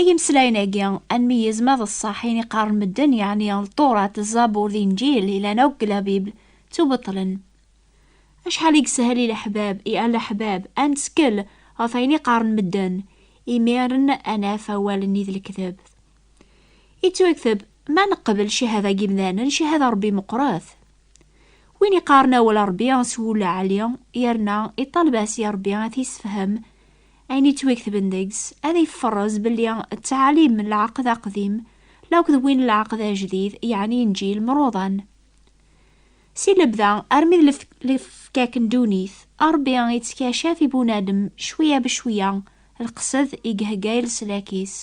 I yimeslayen-agi, ad nmeyyez ma d ṣṣeḥ ayen i qqaren medden, yeɛni Lṭurat, Zzabur d Inǧil yellan akk deg La Bible, ttubeṭṭlen. Acḥal i yeshel i leḥbab, i alaḥbab, ad nettkel ɣef ayen i qqaren medden, imiren ad naf awal-nni d lekdeb. Yettwakteb, ma neqbel cchada n yimdanen, cchada n Ṛebbi meqqret. Win iqqaren awal n Ṛebbi s wul aɛli, yerna iṭaleb-as i Ṛebbi ad t-yessefhem, Ayen yettwaketben deg-s ad yefferrez belli ttɛalim n lɛeqd aqdim la akked win n lɛeqd ajdid, yeɛni Inǧil, mruḍan. Si lebda armi d lefkak n ddunit, Ṛebbi ittkaccaf i bunadem cwiya becwiya lqesed i ihegga i leslak-is.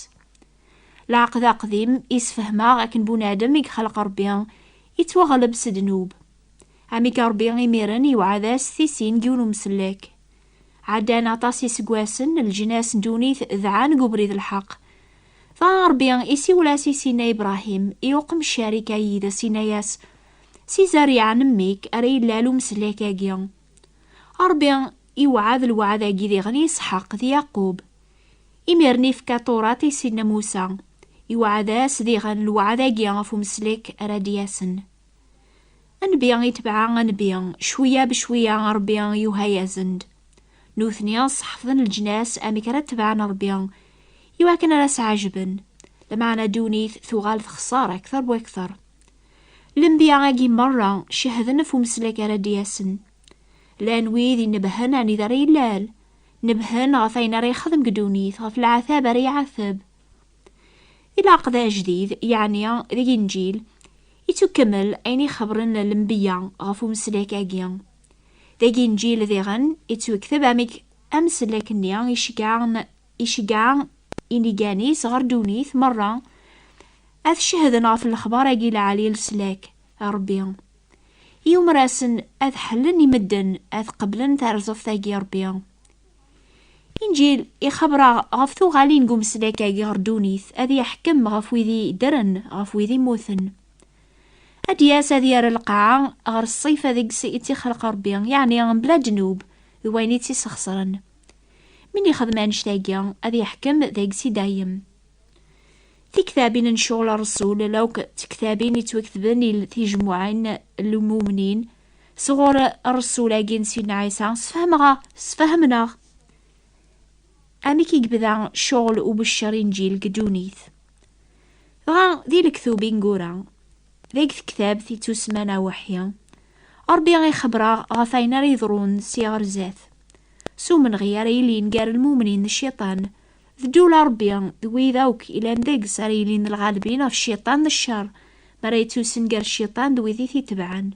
Lɛeqd aqdim isefhem-aɣ akken bunadem i ixleq Ṛebbi ittwaɣleb s ddnub. Amek Ṛebbi imiren iwɛed-as tisin n yiwen umsellek. Ɛeddan aṭas iseggasen, leǧnas n ddunit dɛan deg ubrid n lḥeqq. Dɣa Ṛebbi isiwel-as i Sina Ibṛahim, i uqemcer i ka yid-s, inna-yas, Si zerriɛa n mmi-k ara illal umeslak-agi. Ṛebbi iwɛed lweɛd-agi diɣen i Isḥaq d Yaqub. Imiren ifka Tuṛat i Sina Musa, iwɛed-as diɣen lweɛd-agi ɣef umeslek ara d-yasen. Anbi itbeɛ anbi, cwiya becwiya Ṛebbi yuha-yasen-d. Nutni ṣeḥfḍen leǧnas amek ara tebɛen Ṛebbi, iwakken ara s-ɛejben, lameɛna ddunit tuɣal texṣer akteṛ bu akteṛ. Lenbiya-agi meṛṛa cehden ɣef umeslak ara d-yasen. Llan wid inebhen anida ara yellal, nebhen ɣef ayen ara yexdem deg ddunit, ɣef leɛtab ara iɛateb. Ilaq d ajdid, yeɛni d Linǧil, ittukkemel ayen i xebren lembiya ɣef umeslek-agi. D aginǧil diɣen ittwekteb amek ameslek-nni iceggeɛ inigan-is ɣer ddunit merra ad cehden ɣef lexbar-agi lɛali leslak n Rebbi. Yumer-asen ad ḥellen i medden ad qeblen tarzeft-agi n Rebbi. Inǧil ixabber-aɣ ɣef tuɣalin n umesnak-agi ɣer ddunit, ad yeḥkem ɣef wid i ddren, ɣef wid i mmuten. Ad d-yas ad yerr lqaɛa ɣer ṣṣifa deg-s i tt-ixleq Rebbi, yeɛni mebla ddnub d wayen i tt-isxeṣren. Mi n-ixdem annect-agi, ad yeḥkem deg-s i dayem. Tiktabin n Ccɣel Rreṣul, la akk d tektabin yettwaketben il tijemmuɛin n lmumnin, sɣur Rresul-agi n Sidna Ɛisa, sfehmeɣ-aɣ, sfehmneɣ amek i yebda cɣel ubeccer inǧil deg ddunit. Dɣa di lektub ingura, deg tektabt i tusman aweḥḥi, Ṛebbi ixebber-aɣ ɣef ayen ara yeḍrun si ɣer zdat, s umenɣi ara yilin gar lmumnin d cciṭan, D ddul a Ṛebbi, d wid akk ilan deg-s ara yilin d lɣalbin ɣef Cciṭan d cceṛ, mi ara yettusen gar Cciṭan d wid i t-itebɛen.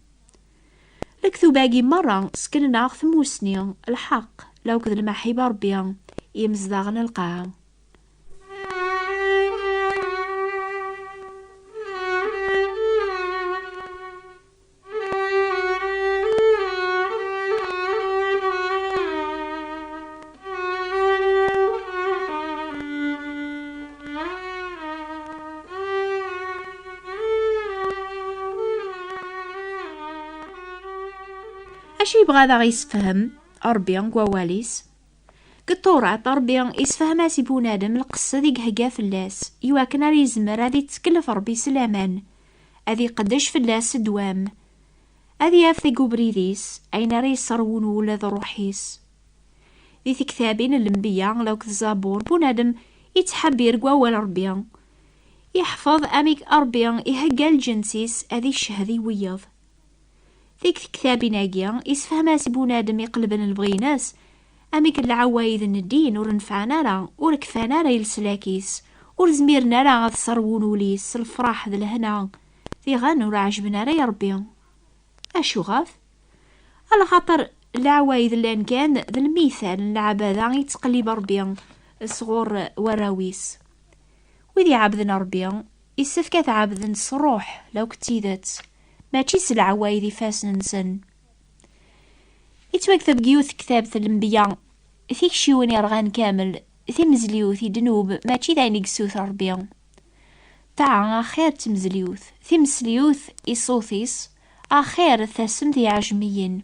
Lektub-agi meṛṛa ṣekknen-aɣ tmusni, lḥeqq, la akked lmaḥib a Ṛebbi, i yimezdaɣen n lqaɛa. Acu yebɣa ad aɣ-yessefhem Ṛebbi deg wawal-is? Deg Tawrat, Ṛebbi yessefhem-as i bunadem lqesd i ihegga fell-as, iwakken ad yezmer ad ittekllef Ṛebbi s laman, ad iqeddec fell-as ddwa-m, ad yaf deg ubrid-is ayen ara yesserwun ula d ṛṛuḥ-is. Di tektabin n Lenbiya lauk d Zabur bunadem ittḥebbir deg wawal n Ṛebbi, iḥfeḍ amek Ṛebbi ihegga lǧens-is ad iccehhed i wiyeḍ. Deg tektabin-agi, isefhem-as i bunadem iqelben lebɣi-ines Amek lɛawayed n ddin ur nefɛen ara, ur kfan ara i leslak-is, ur zmiren ara ad ṣerwun ul-is s lefraḥ d lehna, diɣen ur ɛejben ara i Rebbi. Acuɣef? Alxaṭer lɛawayed llan kan d lmithal n lɛabada i yettqellib Rebbi sɣur warraw-is. Wid iɛabden Rebbi, issefk ad t-ɛabden s ṛṛuḥ lakk d tidet, mačči s lɛawayed ifassen-nsen. Yettwakteb deg yiwet tektabt n lembiya, tikciwin yerɣan kamel, timezliwt i ddnub, mačči d ayen i yessuter Rebbi. Ṭaɛa, axir d temezliwt, timesliwt i ṣṣut-is, axir d tassemt i yiɛejmiyen.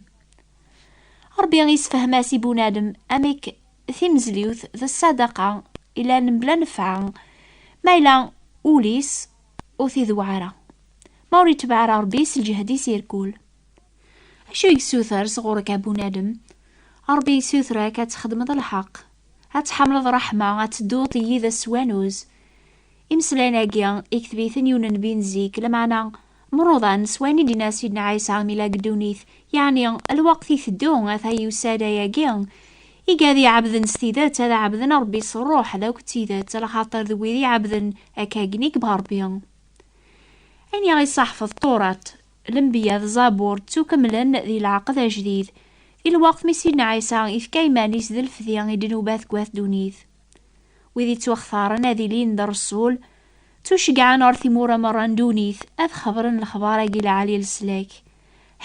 Rebbi yessefhem-as i bunadem amek timezliwt d ṣṣadaqa yellan mebla nnfeɛ, ma yella ul-is ur t-ideww ara, ma ur itebbeɛ ara Rebbi s lǧehd-is irkul. Acu i yessuter sɣur-k a bunadem? Ṛebbi yessuter-ak ad txedmeḍ lḥeqq, ad tḥamleḍ ṛṛeḥma, ad tedduḍ yid-s s wanuz. Imeslayen-agi, ikteb-iten yiwen n nnbi n zik, lameɛna mruḍan s wayen i d-yenna Sidna Ɛisa mi yella deg ddunit, yeɛni, Lweqt iteddu, ata yusa-d, ayagi i gad iɛebden s tidet, ad ɛebden Ṛebbi s ṛṛuḥ d akk d tidet, lxaṭer d wid iɛebden akka akken i yebɣa Ṛebbi. Ayen i aɣ-iṣaḥef Ṭṭurat, Lenbiya d Zabur ttukemlen di lɛeqd ajdid, i lweqt mi Sidna Ɛisa ifka iman-is d lefdi i ddnubat deg wat ddunit. Wid ittwaxtaren ad ilin d Reṣul, ttuceggɛen ɣer timura merra n ddunit ad xebren lexbar-agi lɛali n leslak.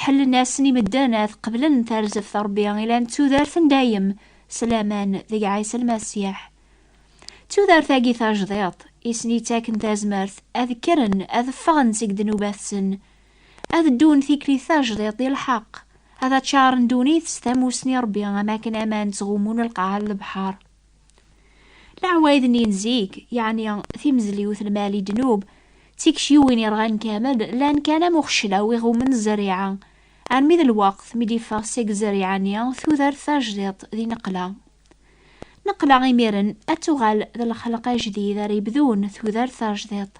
Ḥellen-asen i medden ad qeblen tarzeft n Rebbi ilan d tudert n dayem s laman deg Ɛisa Lmasiḥ. D tudert-agi tajdiṭ i sen-ittaken tazmert ad kkren ad ffɣen seg ddnubat-sen, ad ddun tikli tajdiṭ di lḥeqq, ad aččaren ddunit s tamussni Ṛebbi am akken aman ttɣummun lqaɛa n lebḥeṛ. Leɛwayed-nni n zik, yeɛni timezliwt lmal i ddnub, d tikciwin irɣan kamel, llan kan am uxeclaw i ɣummen zzeriɛa, armi d lweqt mi d-iffeɣ seg zzeriɛa-nni tudert tajdiṭ di neqqla. Neqleɣ imiren ad tuɣal d lxelq ajdid ara yebdun tudert tajdiḍt.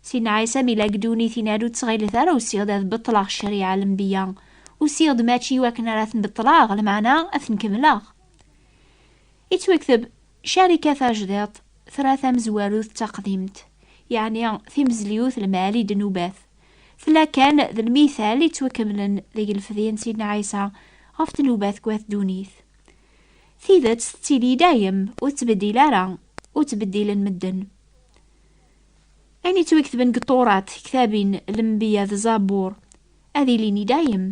Sin Ɛisa mi la ddunit in-ad ur ttɣilet ara usiɣ-d ad beṭleɣ ccariɛa lenbiya, usiɣ-d mačči i wakken ara ten-beṭleɣ, lmeɛna ad ten-kemmleɣ. Ittwekteb, Carica tajdiḍt tra tamezwarut d taqdimt, yeɛni timezliwt lmal i ddnubat. Tella kan d lmithal ittwakemmlen deg lfedyen Sidna Ɛisa ɣef ddnubat n wat ddunit. Tidet tettili dayem, ur tettbeddil ara, ur ttbeddilen medden. Ayen yettwiketben deg Turat, ktabin, lembiya d zabur, ad ilin i dayem.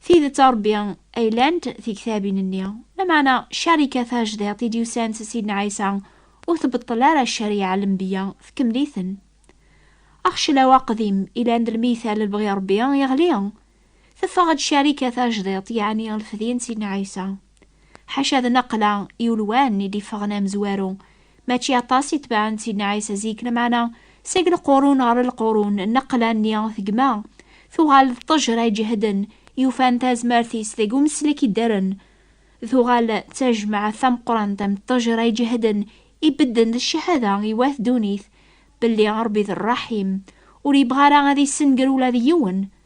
Tidet a Rebbi ay llant tiktabin-nni, lameɛna ccarika tajdiṭ i d-yusan s Sidna Ɛisa ur tbeṭṭel ara ccariɛa n lembiya, tkemmel-iten. Axeclaw aqdim ilan d lmiytal n lebɣi n Rebbi yeɣli. Teffeɣ-d Carika tajdiṭ, yeɛni lfedyen n Sidna Ɛisa. Ḥaca d naqla i ulwan i d-iffɣen amezwaru, mačči aṭas i tebɛen Sidna Ɛisa zik, lameɛna seg lqurun ɣer lqurun naqla-nni tegma, tuɣal d ṭṭejra iǧehden yufan tazmert-is deg umeslek iddren, tuɣal d tajmaɛt tameqqrant am ṭṭejra iǧehden ibedden d cahada i wat ddunit belli Rebbi d Rraḥim, ur yebɣi ara ad issenger ula d yiwen.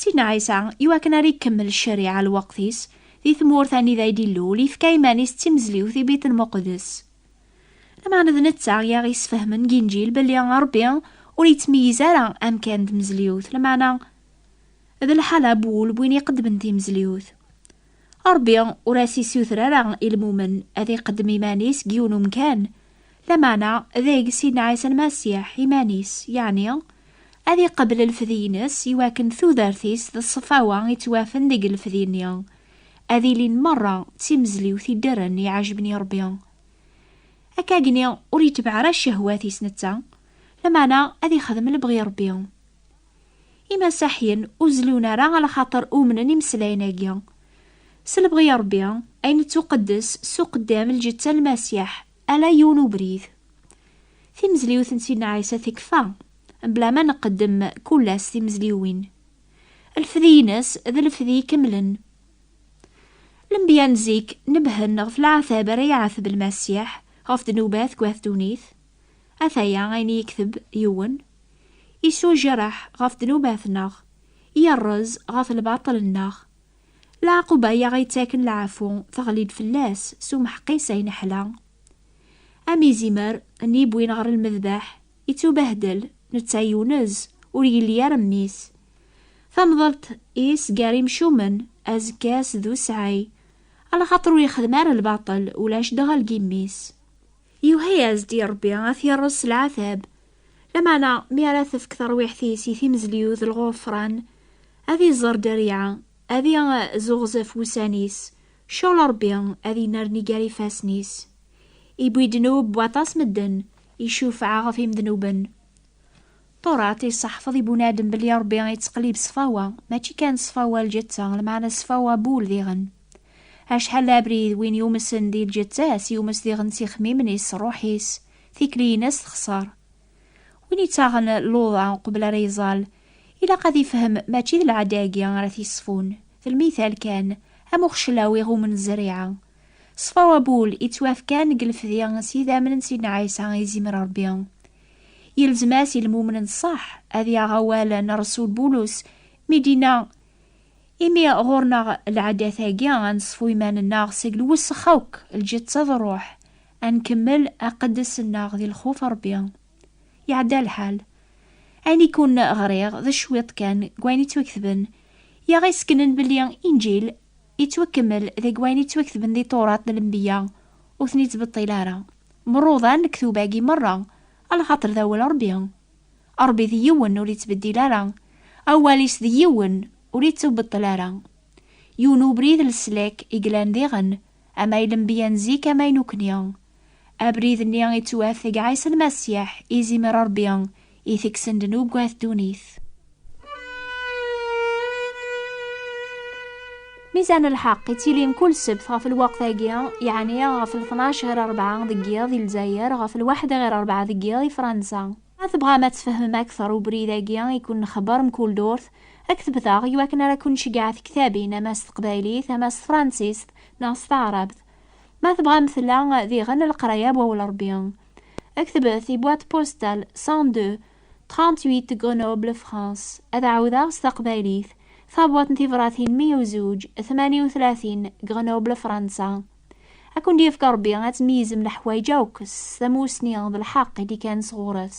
Sidna Ɛisa, iwakken ara ikemmel ccariɛa lweqt-is, di tmurt anida i d-ilul, yefka iman-is d timezliwt i Bit Lmuqddes. Lameɛna d netta i aɣ-yesfehmen deg Inǧil belli Ṛebbi ur yettmeyyiz ara amkan d tmezliwt, lameɛna d lḥala n wul n win iqeddmen timezliwt. Ṛebbi ur as-issuter ara i lmumen ad iqeddem iman-is deg yiwen umkan, lameɛna deg Sidna Ɛisa Lmasiḥ iman-is, yeɛni ad iqebbel lfedyen-is i wakken tudert-is d ṣṣefawa i ttwafen deg lfedyen-nni ad ilin meṛṛa d timezliwt iddren i iɛejben i Ṛebbi. Akkagenni ur itbeɛ ara cehwat-is netta, lameɛna ad ixdem lebɣi Ṛebbi. Imasaḥyen ur zellun ara ala xaṭer umnen imeslayen-agi. S lebɣi n Ṛebbi, ay nettuqeddes s uqeddam lǧetta n Lmasiḥ, ala yiwen ubrid. Timezliwt n Sidna Ɛisa tekfa, mebla ma nqeddem kullas timezliwin. Lefdi-ines d lefdi ikemlen. Lenbiya n zik nebhen ɣef leɛtab ara iɛateb Lmasiḥ ɣef ddnubat deg At Ddunit. Ataya ayen i yekteb yiwen, Isujreḥ ɣef ddnubat-nneɣ, yerrez ɣef lbaṭel-nneɣ. Lɛaquba i aɣ-yettaken lɛafu teɣli-d fell-as s umeḥqis ay neḥla. Am izimer n yewwin ɣer lmedbeḥ, ittubehdel, netta yunez, ur yelli ara mmi-s. Tamḍelt-is gar imcumen, azekka-s d usɛay, ala xaṭer ur yexdem ara lbaṭel, ulac dɣa lgimm-is. Yuha-yas-d i Ṛebbi ad t-iṛṛez s leɛtab, lameɛna mi ara tefk tarwiḥt-is i timezliw d lɣufṛan, ad iẓer dderya, ad i z uɣzef wussan-is, ccɣel Ṛebbi ad inerni gar ifassen-is. Iwwi ddnub n waṭas medden, icufeɛ ɣef imednuben. Turat iseḥfeḍ i bunadem belli Ṛebbi ittqellib ṣṣfawa, mačči kan ṣṣfawa lǧetta, lmeɛna ṣṣfawa n wul diɣen. Acḥal d abrid win yumsen di lǧetta-s, yumes diɣen s ixemmimen-is, s ṛṛuḥ-is, tikli-ines texṣer. Win ittaɣen luḍa uqbel ara iẓall, ilaq ad ifhem mačči d lɛada-agi ara t-iṣfun, d lmithal kan, am uxeclaw iɣummen zzeriɛa. Ṣṣfawa n wul ittwafkan deg lefdi s yidammen n Sidna Ɛisa, izimr Ṛebbi, Yelzem-as i lmumen n ṣṣeḥ ad yaɣ awal n Ṛṛsul Bulus mi d-yenna, Imi ɣur-neɣ lɛadat-agi, ad neṣfu iman-nneɣ seg lwessex akk, lǧetta d ṛṛuḥ, ad nkemmel aqeddes-nneɣ di lxuf n Ṛebbi. Iɛedda lḥal. Ayen i ken-ɣriɣ d cwiṭ kan n wayen yettwaketben, i aɣ-isekknen belli Inǧil yettwakemmel deg wayen yettwaketben di Tewraṭ n Lenbeyya, ur ten-ittbeṭṭil ara. Mruḍan lektub-agi merra, a lxaṭer d awal Ṛebbi. Ṛebbi d yiwen ur yettbeddil ara, awal-is d yiwen ur yettubeṭṭel ara. Yiwen ubrid n leslak i yellan diɣen, ama i lenbiya n zik ama i nukni. Abrid-nni yettwat deg Ɛisa Lmasiḥ, izimer Ṛebbi, i tekksen-d nugad ddunit. Mizan lḥeqq yettilin kul ssebt ɣef lweqt-agi, yeɛni ɣef lṭnac ɣir rebɛa deg yiḍ i Lezzayer, ɣef lwaḥda ɣir rebɛa deg yiḍ i Fransa. Ma tebɣam ad tfehmem akteṛ ubrid-agi i ken-nxebbeṛ mkul durt, ad ktebet-aɣ i wakken ara ken-nceggeɛ tektabin ama s teqbaylit, ama s tefransist, neɣ s taɛrabt. Ma tebɣam tella diɣen leqraya n Wawal Ṛebbi. Ktebet i boîte postale 102 38 Grenoble, France. Ad ɛawdeɣ s taqbaylit. Tabwaḍt n tibṛatin 102 38 Grenoble, Fransa. Ad kent-yefk Ṛebbi ad tmeyyzem leḥwayeǧ akk s tamussni d lḥeqq i d-ikan sɣur-s.